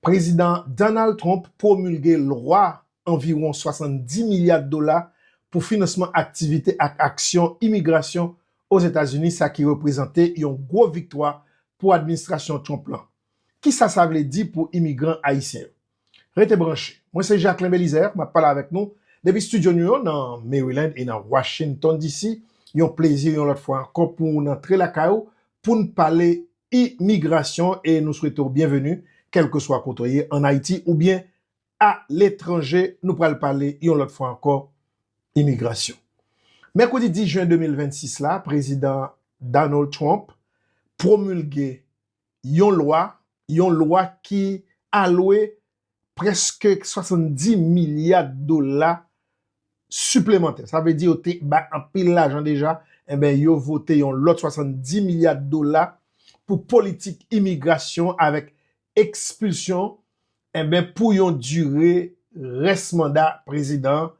Prezidan Donald Trump pwomilge lwa anviwon 70 milya dola pou finansman aktivite ak aksyon imigrasyon Ozetazini sa ki reprezante yon gwo viktwa pou administrasyon Trump lan. Kisa sa vle di pou imigran ayisyen yo? Rete branche. Mwen se Jacquelin Belizaire map pale avèk nou depi studio nou yo nan Maryland e nan Washington DC. Yon plezi yon lòt fwa ankò pou nou rantre lakay ou poun pale Imigrasyon e nou swete w byenveni kèlkeswa kote w ye an Ayiti oubyen a letranje. Nou pral pale yon lòt fwa ankò imigrasyon. Mèkredi 10 jen 2026 la, Prezidan Donald Trump pwomilge yon lwa, yon lwa ki alwe prèske 70 milya dola siplemantè. Sa vle di yo te bay anpil lajan deja, enben yo vote yon lòt 70 milya dola pou politik imigrasyon avèk ekspilsyon, enben pou yon dire rès manda prezidan an.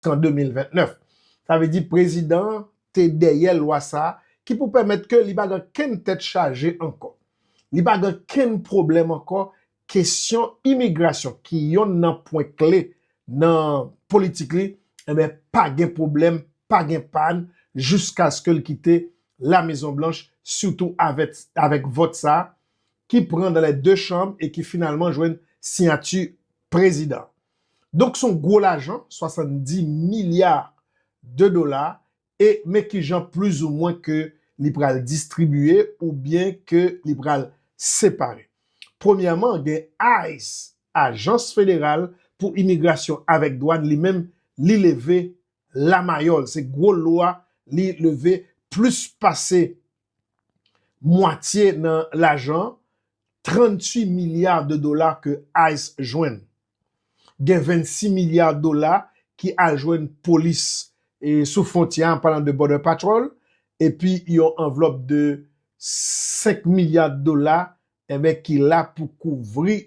an 2029. Sa vle di prezidan an te dèyè lwa sa a ki pou pèmèt ke li pa gen kenn tèt chaje ankò. Li pa gen kenn pwoblèm ankò kesyon imigrasyon ki yonn nan pwen kle nan politik li, enben pa gen pwoblèm, pa gen pàn jiskaske l kite La Mezon Blanch sitou avèk vòt sa a ki pran nan lè 2 chanm e ki finalman jwenn siyati prezidan an. Donk se yon gwo lajan, 70 milya de dola e men ki jan plis ou mwen ke li pral distribiye ou byen ke li pral separe. Premyèman gen ice, Ajans Federal pou Imigrasyon avèk Dwàn li menm li leve lamayòl, se gwo lwa li leve plis pase mwatye nan lajan 38 milya de dola ke ice jwenn. Gen 26 milya dola ki al jwenn polis sou fwontyè an palan de Border Patrol epi yon anvlòp de 5 milya dola enben ki la pou kouvri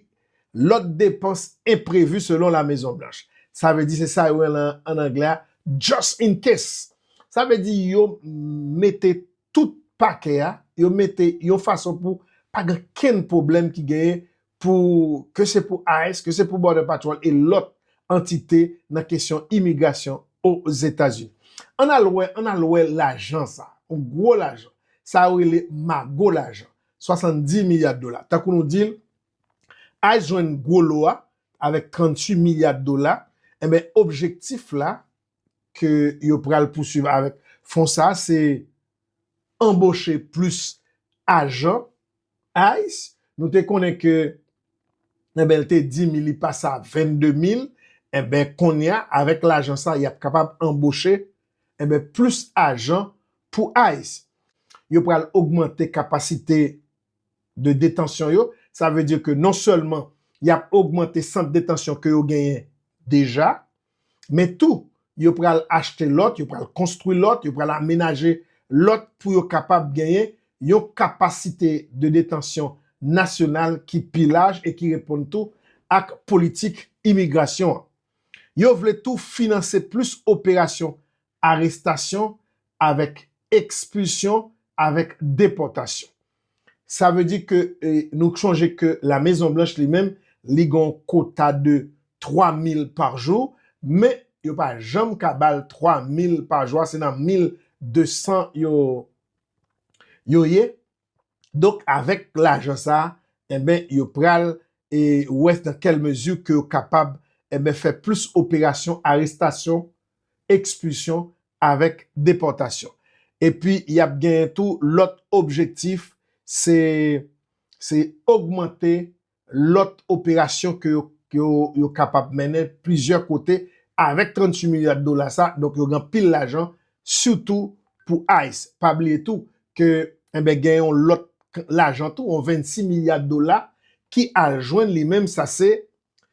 lòt depans enprevi selon La Mezon Blanch. Sa vle di se sa yo rele an anglè a just in case. Sa vle di yo mete tout pakè a, yo mete yon fason pou pa gen okenn pwoblèm ki genyen pou ke se pou ice, ke se pou Border Patrol e lòt antite nan kesyon imigrasyon Ozetazini. Ann al wè, ann al wè lajan sa a, yon gwo lajan. Sa yo rele mago lajan. 70 milya dola. Tankou nou di l, ice jwenn gwo lo a avèk 38 milya dola, enben objektif la ke yo pral pousuiv avèk fon sa a se anboche plis ajan ice. Nou te konnen ke enben l te di mi li pase a 22 mil, enben kounye a avèk lajan sa a y ap kapab anboche Enben plis ajan pou ice. Yo pral ogmante kapasite de detansyon yo. Sa vle di ke non sèlman y ap ogmante sant detansyon ke yo genyen deja, men tou yo pral achte lòt, yo pral konstwi lòt, yo pral amenaje lòt pou yo kapab genyen yon kapasite de detansyon nasyonal ki pi laj e ki reponn tou ak politik imigrasyon an. Yo vle tou finanse plis operasyon arestasyon avèk ekspilsyon avèk depòtasyon. Sa vle di ke nou chonje ke La Mezon Blanch li menm li gen yon kota de 3 mil pa jou, men yo pa janm ka ba l 3 mil pa jou a, se nan 1200 yo ye. Donk avèk lajan sa a enben yo pral wè nan kèl mezi ke yo kapab enben fè plis operasyon arestasyon, ekspilsyon avèk depòtasyon. Epi y ap genyen tou lòt objektif se ogmante lòt operasyon ke yo kapab mennen plizyè kote avèk 38 milya dola sa, donk yo gen anpil lajan sitou pou ice. Pa bliye tou ke enben gen yon lòt lajan tou, yon 26 milya dola ki al jwenn li menm sa se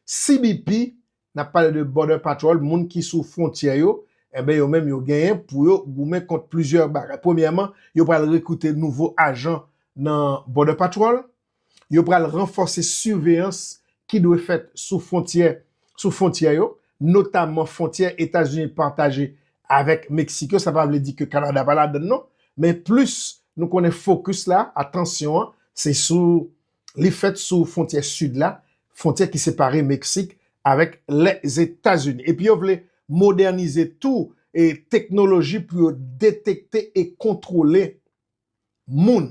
CBP Nap pale de Border Patrol, moun ki sou fwontyè yo, enben yo menm yo genyen pou yo goumen kont plizyè bagay. Premyèman, yo pral rekrite nouvo ajan nan Border Patrol, yo pral ranfòse siveyans ki dwe fèt sou fwontyè, sou fwontyè yo, notamman fwontyè Etazini pataje avèk Meksik yo, sa pa vle di ke Kanada pa ladann non, men plis nou konnen fokis la, atansyon an, se sou Li fèt sou fwontyè sid la, fwontyè ki separe Meksik avèk Lèzetazini. Epi yo vle modènize tou e teknoloji pou yo detekte e kontwole moun,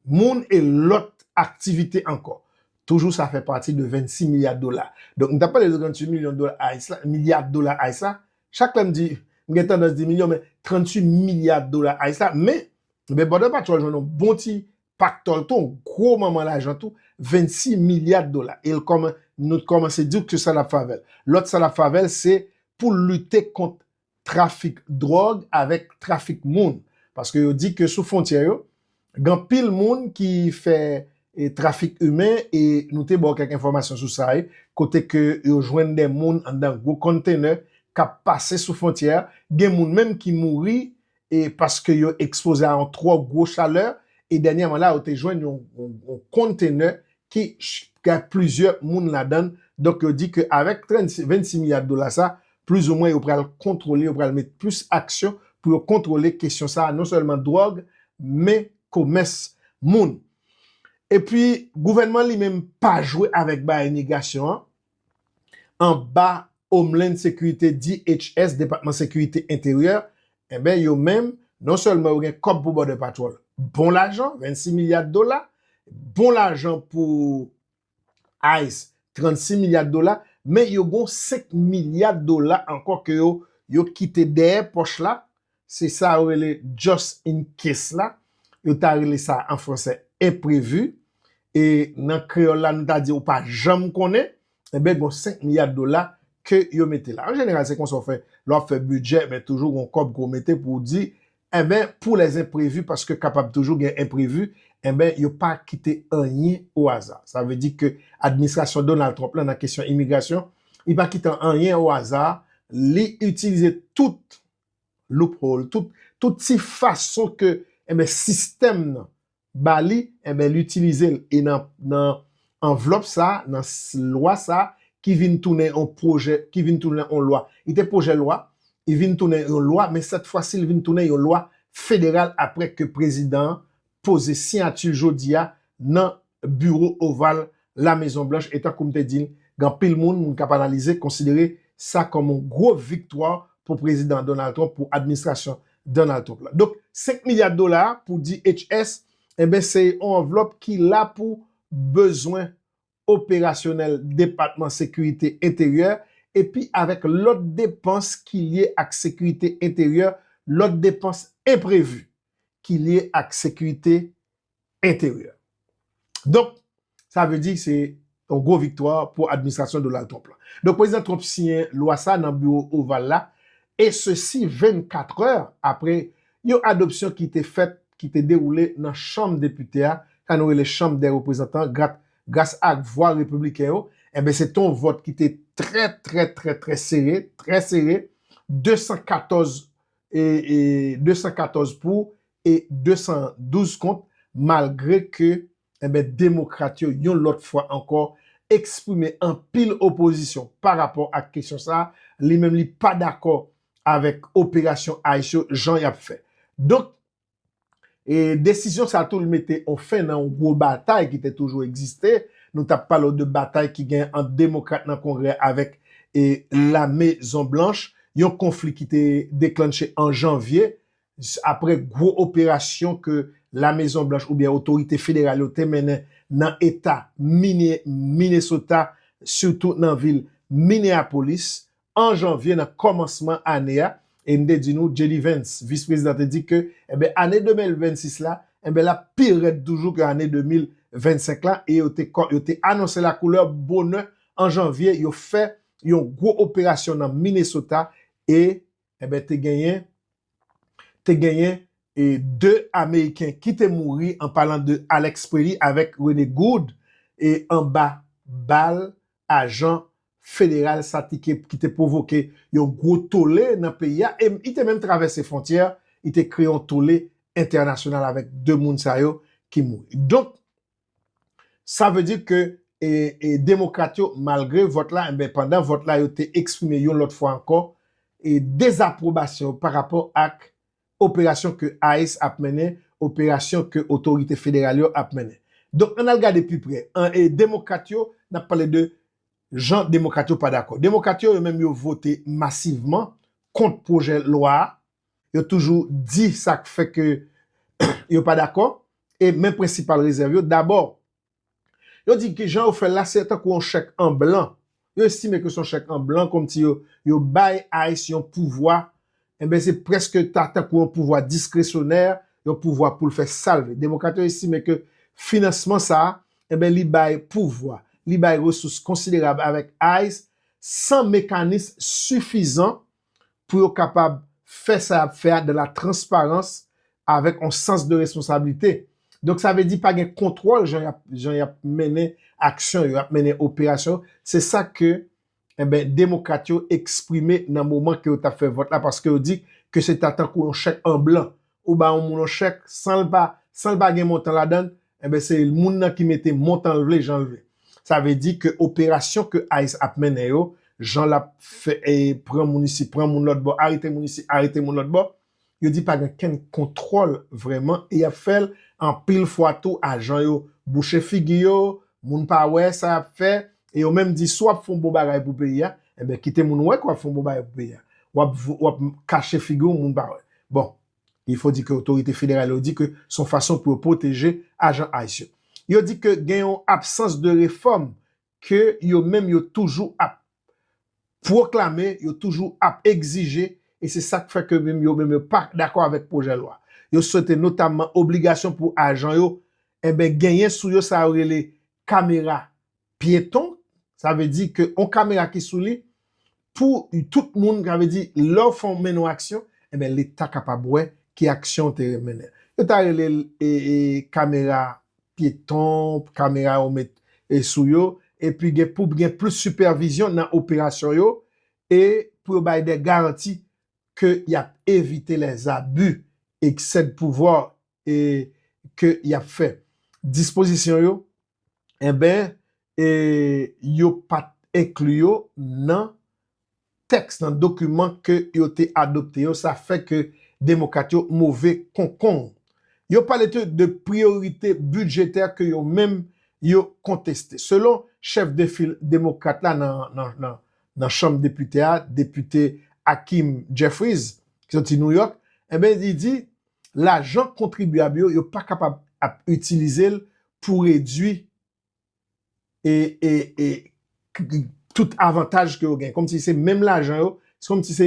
moun e lòt aktivite ankò. Toujou sa fè pati de 26 milya dola. Donk m t ap pale de 38 milyon dola ice la, milya dola ice la. Chak lè m di, m gen tandans di milyon men 38 milya dola ice la. Men, bòdè patwòl jwenn yon bon ti Pak Tòl te yon gwo manman lajan tou, 26 milya dola. E nou te kòmanse di w ki sa l ap fè avè l. Lòt sa l ap fè avè l se pou l lite kont trafik dwòg avèk trafik moun. Paske yo di ke sou fwontyè yo, gen anpil moun ki fè trafik imen e nou te ba w kèk enfòmasyon sou sa. Kote ke yo jwenn de moun anndan gwo konntenè k ap pase sou fwontyè a. Gen moun menm ki mouri e paske yo ekspoze a yon twò gwo chalè, e dènyèman la yo te jwenn yon kontenè ki gen plizyè moun ladan l, donk yo di ke avèk 26 milya dola sa, plizoumwen yo pral kontwole, yo pral met plis aksyon pou yo kontwole kesyon sa, non sèlman dwòg, men komès moun. Epi gouvènman li menm pa jwe avèk bagay migrasyon an, anba Homeland Security, DHS, Depatman Sekirite Enteryè, enben yo menm, non sèlman yo gen kòb pou Border Patrol, bon lajan, 26 milya dola, bon lajan pou ice, 36 milya dola, men yo gon 5 milya dola ankò ke yo kite dèyè pòch la, Se sa yo rele just in case la, yo ta rele sa an fransè enprevi, e nan kreyòl la nou ta di ou pa janm konnen, enben gon 5 milya dola ke yo mete la. An jeneral se konsa ou fè lè w ap fè bidjè, men toujou gon kòb ke w mete pou w di, enben pou les imprévus paske kapab toujou gen enprevi, enben yo pa kite anyen o aza. Sa vle di ke administrasyon Donald Trump la nan kesyon imigrasyon, li pa kite anyen o aza, li itilize tout loophole, tout ti fason ke sistèm nan ba li, enben li itilize l. E nan anvlòp sa, nan lwa sa, ki vin tounen yon pwojè, ki vin tounen yon lwa. Li te pwojè lwa, li vin tounen yon lwa, men sèt fwa si li vin tounen yon lwa federal apre ke prezidan an poze siyati l jodi a nan biwo oval La Mezon Blanch e tankou m te di l gen anpil moun, moun k ap analize, konsidere sa kòm yon gwo viktwa pou Prezidan Donald Trump, pou administrasyon Donald Trump la. Donk 5 milya dola a pou DHS, enben se yon anvlòp ki la pou bezwen operasyonèl Depatman Sekirite Enteryè epi avèk lòt depans ki lye ak sekirite enteryè, lòt depans enprevi ki lye ak sekirite enteryè. Donk, sa vle di se yon gwo viktwa pou administrasyon Donald Trump la. Donk, Prezidan Trump siyen lwa sa nan Biwo Oval la, e sesi 24 è apre Yon adopsyon ki te fèt ki te dewoule nan chanm depite a ka nou rele chanm dè reprezantan grat gras ak vwa repibliken yo enben se te yon vòt ki te trè trè trè trè sere trè sere 214 e 214 pou e 212 kont malgre ke Enben Demokrat yo yon lòt fwa ankò eksprime anpil opozisyon pa rapò ak kesyon sa, li menm li pa dakò avèk operasyon ice yo jan y ap fè. Donk e desizyon sa tou li mete on fen nan on gwo batay ki te toujou egziste, nou t ap pale w de batay ki gen ant Demokrat nan Kongrè avèk e Lame Zon Blanch, yon konfli ki te deklanche an janvye apre gwo operasyon ke La Mezon Blanch oubyen otorite federal yo te mennen nan eta Minnesota, sitou nan vil Minneapolis, an janvye nan kòmansman ane a, e m te di nou JD Vance, vis prezidan te di ke enben ane 2026 la, enben l ap pi rèd toujou ke ane 2025 la, e yo te anonse la koulè bonè an janvye, yo fè yon gwo operasyon nan Minnesota, e Enben te genyen te genyen e 2 ameriken ki te mouri an palan de Alex Preely avèk Rene Gould e anba bal ajan federal sa ti ke ki te pwovoke yon gwo tole nan peyi a e i te menm travèse fwontyè i te kreye yon tole entènasyonal avèk 2 moun sa yo ki mouri. Donk Sa vle di ke demokrat yo malgre vòt la, enben pandan vòt la yo te eksprime yon lòt fwa ankò dezapwobasyon yo pa rapò ak operasyon ke ice ap mennen, operasyon ke otorite federal yo ap mennen. Donk ann al gade pi pre, demokrat yo, n ap pale de jan demokrat yo pa dakò. Demokrat yo, yo menm yo vote masivman kont pwojè lwa a Yo toujou di sa k fè ke yo pa dakò e men prensipal rezèv yo, dabò, yo di ke jan yo fè l la se tankou yon chèk an blan, yo estime ke se yon chèk an blan kòmsi yo bay ice yon pouvwa, enben se prèske ta tankou yon pouvwa diskresyonè, yon pouvwa pou l fè sa l vle. Demokrat yo estime ke finansman sa a, enben li bay pouvwa, li bay resous konsiderab avèk ice san mekanis sifizan pou yo kapab fè sa yap fè a dan la transparans avèk on sans de responsablite. Donk sa vle di pa gen kontwòl jan yap jan yap mennen aksyon yo, yap mennen operasyon yo. Se sa ke enben demokrat yo eksprime nan moman ke yo tap fè vòt la paske yo di ke se ta tankou on chèk an blan. Ou bay on moun on chèk san l pa san l pa gen montan ladan l, Enben se moun nan ki mete montan l vle jan l vle. Sa vle di ke operasyon ke ice ap mennen yo, jan l ap fè pran moun isi, pran moun lòt bò, arete moun isi, arete moun lòt bò, yo di pa gen kenn kontwòl vrèman e y ap fè l anpil fwa tou ajan yo bouche figi yo, moun pa wè sa y ap fè e yo menm di si w ap fè yon bon bagay pou peyi a, enben kite moun wè ke w ap fè yon bon bagay pou peyi a. W ap kache figi w moun pa wè. Bon, Il faut di ke otorite federal yo di ke se yon fason pou yo pwoteje ajan ice yo. Yo di ke gen yon absans de refòm ke yo menm yo toujou ap pwoklame, yo toujou ap egzije e se sak fè ke menm yo menm yo pa dakò avèk pwojè lwa. Yo swete notamman obligasyon pou ajan yo enben genyen sou yo sa yo rele kamera pyeton, sa vle di ke yon kamera ki sou li, pou tout moun, sa vle di lè w fè w mennen yon aksyon, enben leta kapab wè ki aksyon w te mennen. Yo ta rele l kamera pyeton, kamera yo met sou yo, epi gen pou gen plis sipèvizyon nan operasyon yo, e pou yo bay dè garanti ke y ap evite lè zabi, eksè de pouvwa ke y ap fè. Dispozisyon yo enben e yo pa t enkli yo nan tèks, nan dokiman ke yo te adopte yo, sa fè ke Demokrat yo move konkong. Yo pale tou de priyorite bidjetè ke yo menm yo konteste. Selon chèf de fil Demokrat la nan Chanm Depite a, Depite Hakeem Jeffries, ki soti New York, enben li di, lajan kontribyab yo, yo pa kapab ap itilize l pou redui tout avantaj ke yo gen. Kòmsi se menm lajan yo, se kòmsi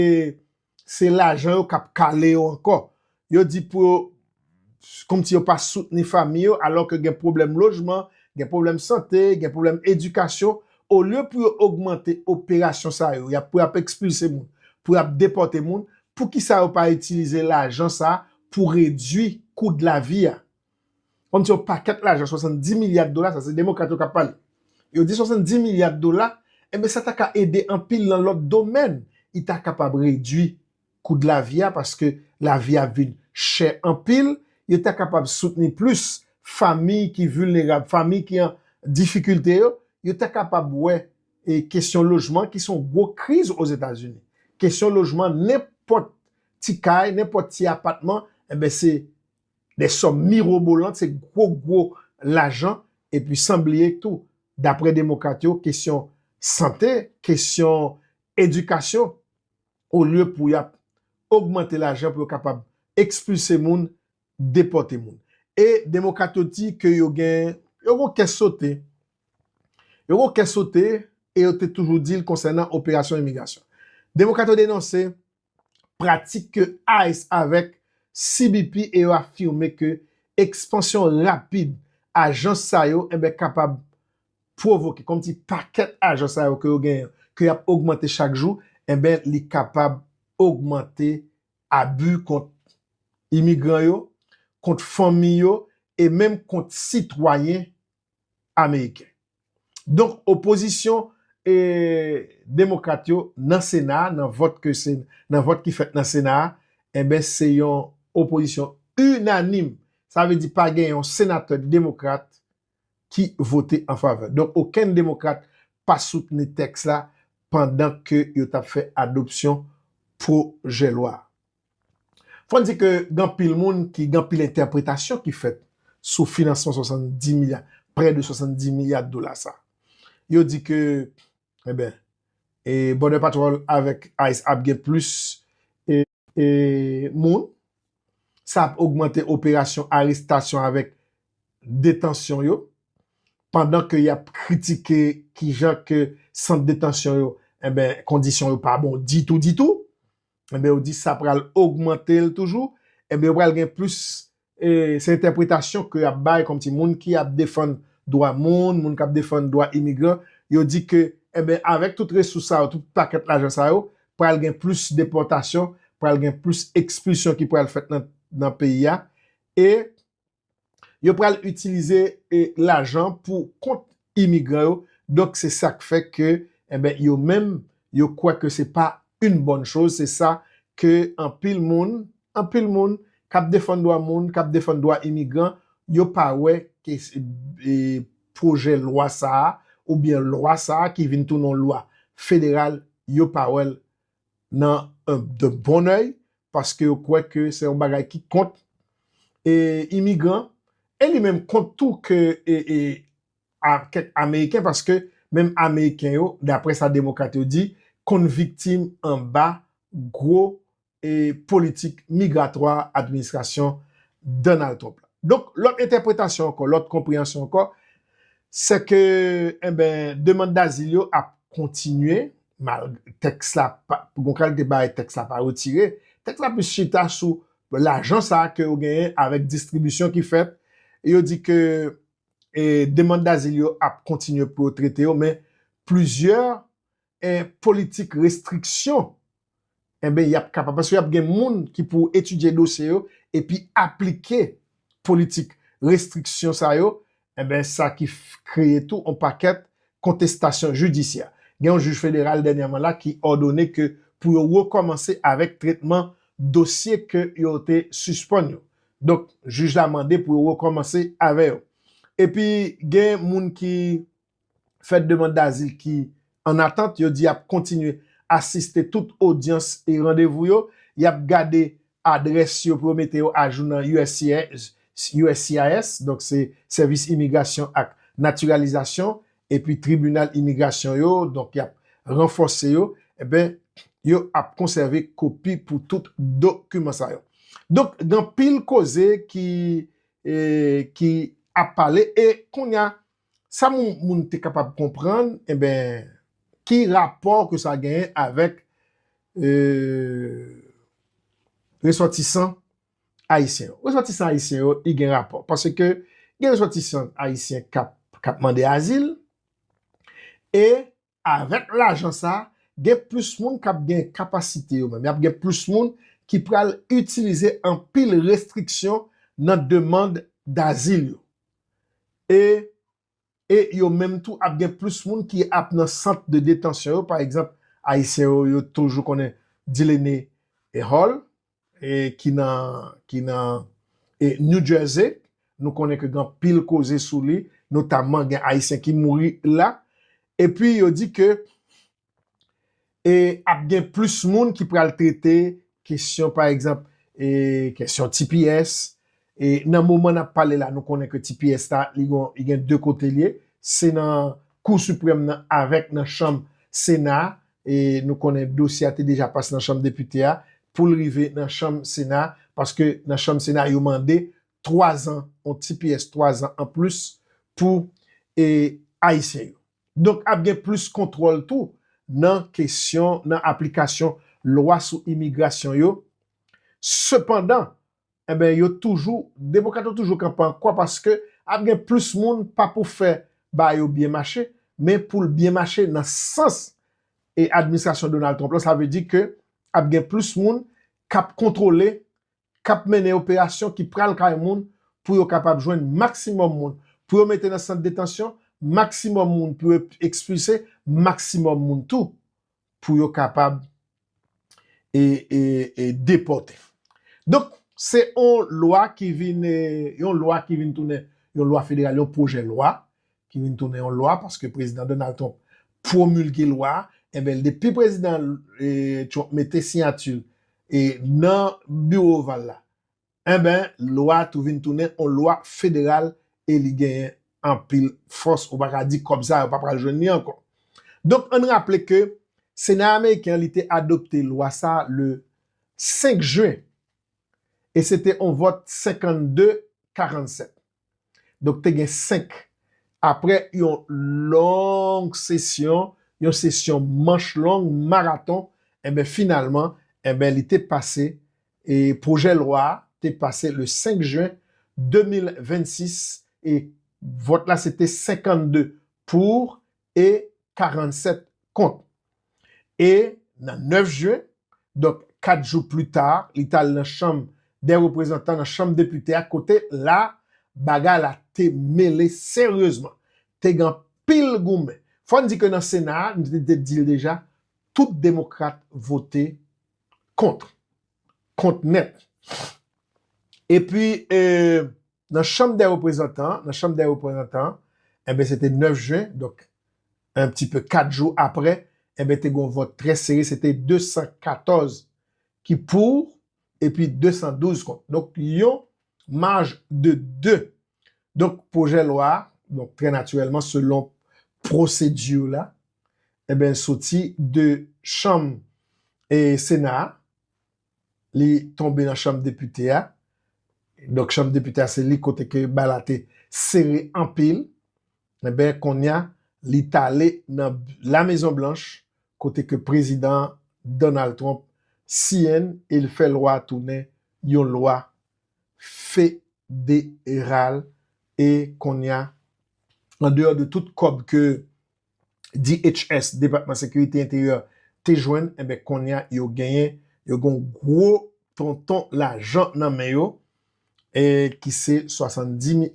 se lajan yo kap kale yo ankò. Yo di pou yo, kòmsi yo pa soutni fami yo, alò ke gen pwoblèm lojman, gen pwoblèm sante, gen pwoblèm edikasyon, olye pou yo ogmante operasyon sa yo, pou y ap ekspilse moun, pou y ap depòte moun, poukisa yo pa itilize lajan sa pou redwi kou de la vi a. Kom se yon paket lajan 70 milya de dola, sa se demokrat yo kap pale. Yo di 70 milya de dola, enben sa ta ka ede anpil nan lot domèn, li ta kapab redwi kou de la vi a paske la vi ap vin chè anpil, yo ta kapab soutni plis famiy ki vilnerab, famiy ki an difikilte yo, yo ta kapab wè. e kesyon lojman ki se yon gwo kriz Ozetazini. Kesyon lojman nenpòt ti kay, nenpòt ti apatman, enben se de sòm mirobolant, se gwo gwo lajan. Epi san bliye tou, dapre demokrat yo, kesyon sante, kesyon edikasyon, olye pou y ap ogmante lajan pou yo kapab ekspilse moun, depòte moun. E demokrat yo di ke yo gen, yo gen yon kè sote. Yo gen yon kè sote e yo te toujou di l konsènan operasyon imigrasyon. Demokrat yo denonse pratik ke ice avèk CBP e yo afime ke ekspansyon rapid ajans sa yo enben kapab pwovoke, kòm ti pakèt ajans sa yo ke yo genyen, ke y ap ogmante chak jou, enben li kapab ogmante abi kont imigran yo, kont fanmi yo e menm kont sitwayen ameriken. Donk opozisyon demokrat yo nan sena a, nan vòt ke se, nan vòt ki fèt nan sena a, enben se yon opozisyon inanim. Sa vle di pa gen yon senatè demokrat ki vote an favè. Donk okenn demokrat pa soutni tèks la pandan ke yo t ap fè adopsyon pwojè lwa a. Fò n di ke gen anpil moun ki gen anpil entèpretasyon ki fèt sou finansman 70 milya, prè de 70 milya dola sa. Yo di ke, enben, e Border Patrol avèk ice ap gen plis e moun, sa ap ogmante operasyon arestasyon avèk detansyon yo, pandan ke y ap kritike kijan ke sant detansyon yo, enben, kondisyon yo pa bon ditou ditou. Enben yo di sa pral ogmante l toujou, enben yo pral gen plis se entèpretasyon ke y ap bay kòmsi moun ki ap defann dwa moun, moun k ap defann dwa imigran, yo di ke enben avèk tout resous sa yo, tout pakèt lajan sa yo, pral gen plis depòtasyon, pral gen plis ekspilsyon ki pral fèt nan peyi a e yo pral itilize lajan pou kont imigran yo, donk se sa k fè ke enben yo menm yo kwè ke se pa yn bòn choz, se sa ke anpil moun, anpil moun k ap defann dwa moun, k ap defann dwa imigran, yo pa wè ke pwojè lwa sa a, oubyen lwa sa a ki vin tounen yon lwa federal, yo pa wè l nan de bon oeil paske yo kwè ke se yon bagay ki kont imigran e li menm kont tou ke kèk ameriken paske menm ameriken yo daprè sa demokrat yo di konn viktim anba gwo politik migratwa administrasyon Donald Trump la. Donk lòt entèpretasyon ankò, lòt konpreyansyon ankò se ke, enben, demand dazil yo ap kontinye tèks la, gon kalite bagay tèks la pa retire, tèks la plis chita sou lajan sa ke yo genyen avèk distribisyon ki fèt, e yo di ke demand dazil yo ap kontinye pou yo trete yo, men plizyè politik restriksyon enben y ap kapab, paske y ap gen moun ki pou etidye dosye yo epi aplike politik restriksyon sa yo, enben sa ki kreye tou yon pakèt kontestasyon jidisyè. Gen yon jij federal dènyèman la ki òdone ke pou yo rekòmanse avèk tretman dosye ke yo te sispann yo. Donk, jij la mande pou yo rekòmanse avè yo. Epi gen moun ki fè demand dazil ki an atant, yo di yap kontinye asiste tout odyans e randevou yo, yap gade adrès yo pou yo mete yo ajou nan uscis, donk se Sèvis Imigrasyon ak Natiralizasyon, epi tribinal imigrasyon yo, donk yap ranfòse yo, enben yo ap konsève kopi pou tout dokiman sa yo. Donk gen anpil koze ki ap pale e kounya Sa moun te kapab konprann, enben, ki rapò ke sa genyen avèk resòtisan ayisyen yo? Resòtisan ayisyen yo, li gen rapò. Pase ke gen resòtisan ayisyen kap mande azil, e avèk lajan sa a, gen plis moun k ap gen kapasite yo menm, y ap gen plis moun ki pral itilize anpil restriksyon nan demand dazil yo. E e yo menm tou ap gen plis moun ki ap nan sant de detansyon yo, pa egzanp, Ayisyen yo yo toujou konnen Dilene Hall, ki nan New Jersey, nou konnen ke gen anpil koze sou li, notamman gen Ayisyen ki mouri la, epi yo di ke ap gen plis moun ki pral trete kesyon, pa egzanp, kesyon tps, E nan moman nap pale la nou konnen ke ti pyès la li gon li gen 2 kote l ye se nan kou siprèm nan avèk nan chanm sena a e nou konnen dosye a te deja pase nan chanm depite a pou l rive nan chanm sena a paske nan chanm sena a yo mande 3 zan yon ti pyès 3 zan anplis pou e ayisyen yo donk ap gen plis kontwòl tou nan kesyon nan aplikasyon lwa sou imigrasyon yo sepandan Enben yo toujou, demokrat yo toujou kanpe an kwa paske ap gen plis moun pa pou fè bagay yo byen mache, men pou l byen mache nan sans e administrasyon Donald Trump lan, sa vle di ke ap gen plis moun k ap kontwole, k ap mennen operasyon, ki pral kay moun pou yo kapab jwenn maksimòm moun pou yo mete nan sant detansyon, maksimòm moun pou yo ekspilse, maksimòm moun tou pou yo kapab e depòte. Donk, se yon lwa ki vin, yon lwa ki vin tounen yon lwa federal, yon pwojè lwa ki vin tounen yon lwa paske Prezidan Donald Trump pwomilge lwa a. Enben, depi Prezidan Trump mete siyati l e nan Biwo Oval la, Enben, lwa a tou vin tounen yon lwa federal e li genyen anpil fòs. Ou pa ka di kòb sa a yo pa pral jwenn li ankò. Donk, ann raple ke Sena ameriken an li te adopte lwa sa a le 5 jen e se te yon vòt 52, 47. Donk te gen 5. Aprè yon long sesyon, yon sesyon manch long, maraton, enben finalman, enben li te pase, e pwojè lwa a te pase le 5 jen 2026, e vòt la se te 52 pour, e 47 kont. E nan 9 jen, donk 4 jou pli ta, li t al nan chanm dè reprezantan, nan chanm depite a, kote la bagay la te mele seryezman. Te gen anpil goumen. Fò n di ke nan sena a, m te di l deja, tout demokrat vote kont. Kont nèt. E pi, nan chanm dè reprezantan, nan chanm dè reprezantan, enben se te 9 jen, donk en pti pe 4 jou aprè, enben te gon vòt trè sere, se te 214 ki pou, epi 212 kont. Donk yon maj de 2. Donk pwojè lwa, donk trè natirèlman selon pwosedi la, enben soti de chanm e sena a, li tonbe nan chanm depite a, donk chanm depite a se li kote ke bal la te sere anpil, enben konnya li t ale nan La Mezon Blanch kote ke prezidan Donald Trump siyen e l fè lwa a tounen yon lwa federal e konnya andeyò de tout kòb ke DHS, Depatman Sekirite Enteryè, te jwenn, enben kounye a yo genyen, yo gen yon gwo tonton lajan nan men yo, ki se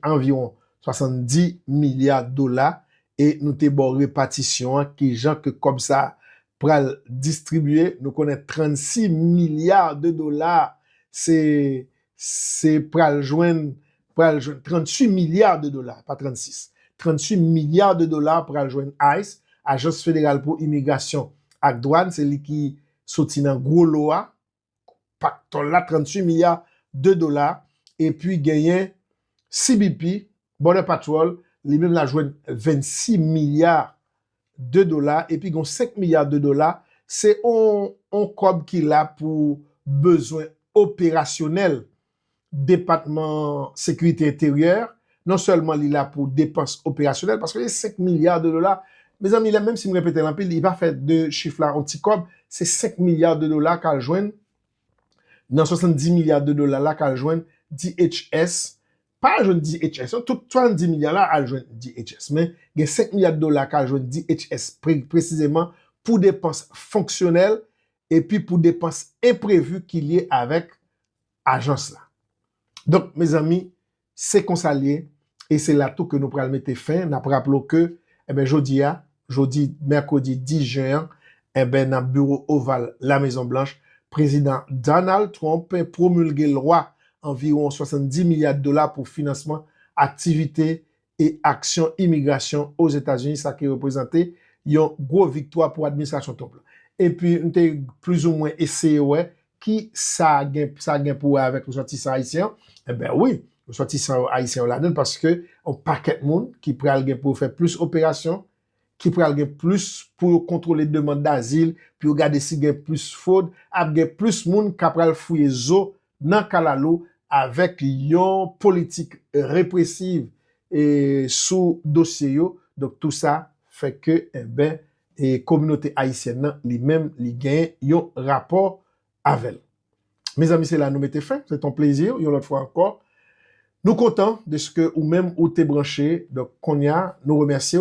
anviwon 70 milya dola, e nou te ba w repatisyon an, ki jan ke kòb sa a pral distribye, nou konnen 36 milya de dola, se Se pral jwenn, pral jwenn 38 milya de dola, pa 36, 38 milya de dola pral jwenn ice, Ajans Federal pou Imigrasyon ak Dwàn, se li ki soti nan gwo lo a, paktòl la, 38 milya de dola, epi genyen CBP, Border Patrol, li menm la jwenn 26 milya de dola epi gen yon 5 milya de dola se yon kòb ki la pou bezwen operasyonèl depatman sekirite enteryè non sèlman li la pou depans operasyonèl paske se 5 milya de dola mezanmi lè menm si m repete l anpil li pa fè de chif la yon ti kòb se 5 milya de dola k al jwenn nan 70 milya de dola la k al jwenn DHS pa al jwenn DHS non, tout 70 milya la al jwenn DHS men gen 5 milya dola ka jwenn DHS presizeman pou depans fonksyonèl epi pou depans enprevi ki lye avèk ajans la. Donk mezanmi se konsa l ye e se la tou ke nou pral mete fen, n ap raple w ke jodi a, jodi mèkredi 10 jen an enben nan biwo oval La Mezon Blanch, Prezidan Donald Trump pwomilge lwa anviwon 70 milya dola pou finansman aktivite e aksyon imigrasyon Ozetazini, sa ki reprezante yon gwo viktwa pou administrasyon Trump la. Epi m te plizoumwen eseye wè Ki sa gen sa gen pou wè avèk resòtisan ayisyen yo? Enben wi, resòtisan yo ayisyen yo ladan l paske yon pakèt moun ki pral gen pou yo fè plis operasyon, ki pral gen plis pou yo kontwole demand dazil, pou yo gade si gen plis fwod, ap gen plis moun k apral fouye zo nan kalalou avèk yon politik represiv sou dosye yo. Donk tou sa fè ke enben e kominote ayisyèn nan li menm li gen yon rapò avè l. Mezanmi se la nou mete fen, se te yon plezi yon lòt fwa ankò. Nou kontan deske ou menm ou te branche, donk konnya nou remèsye w.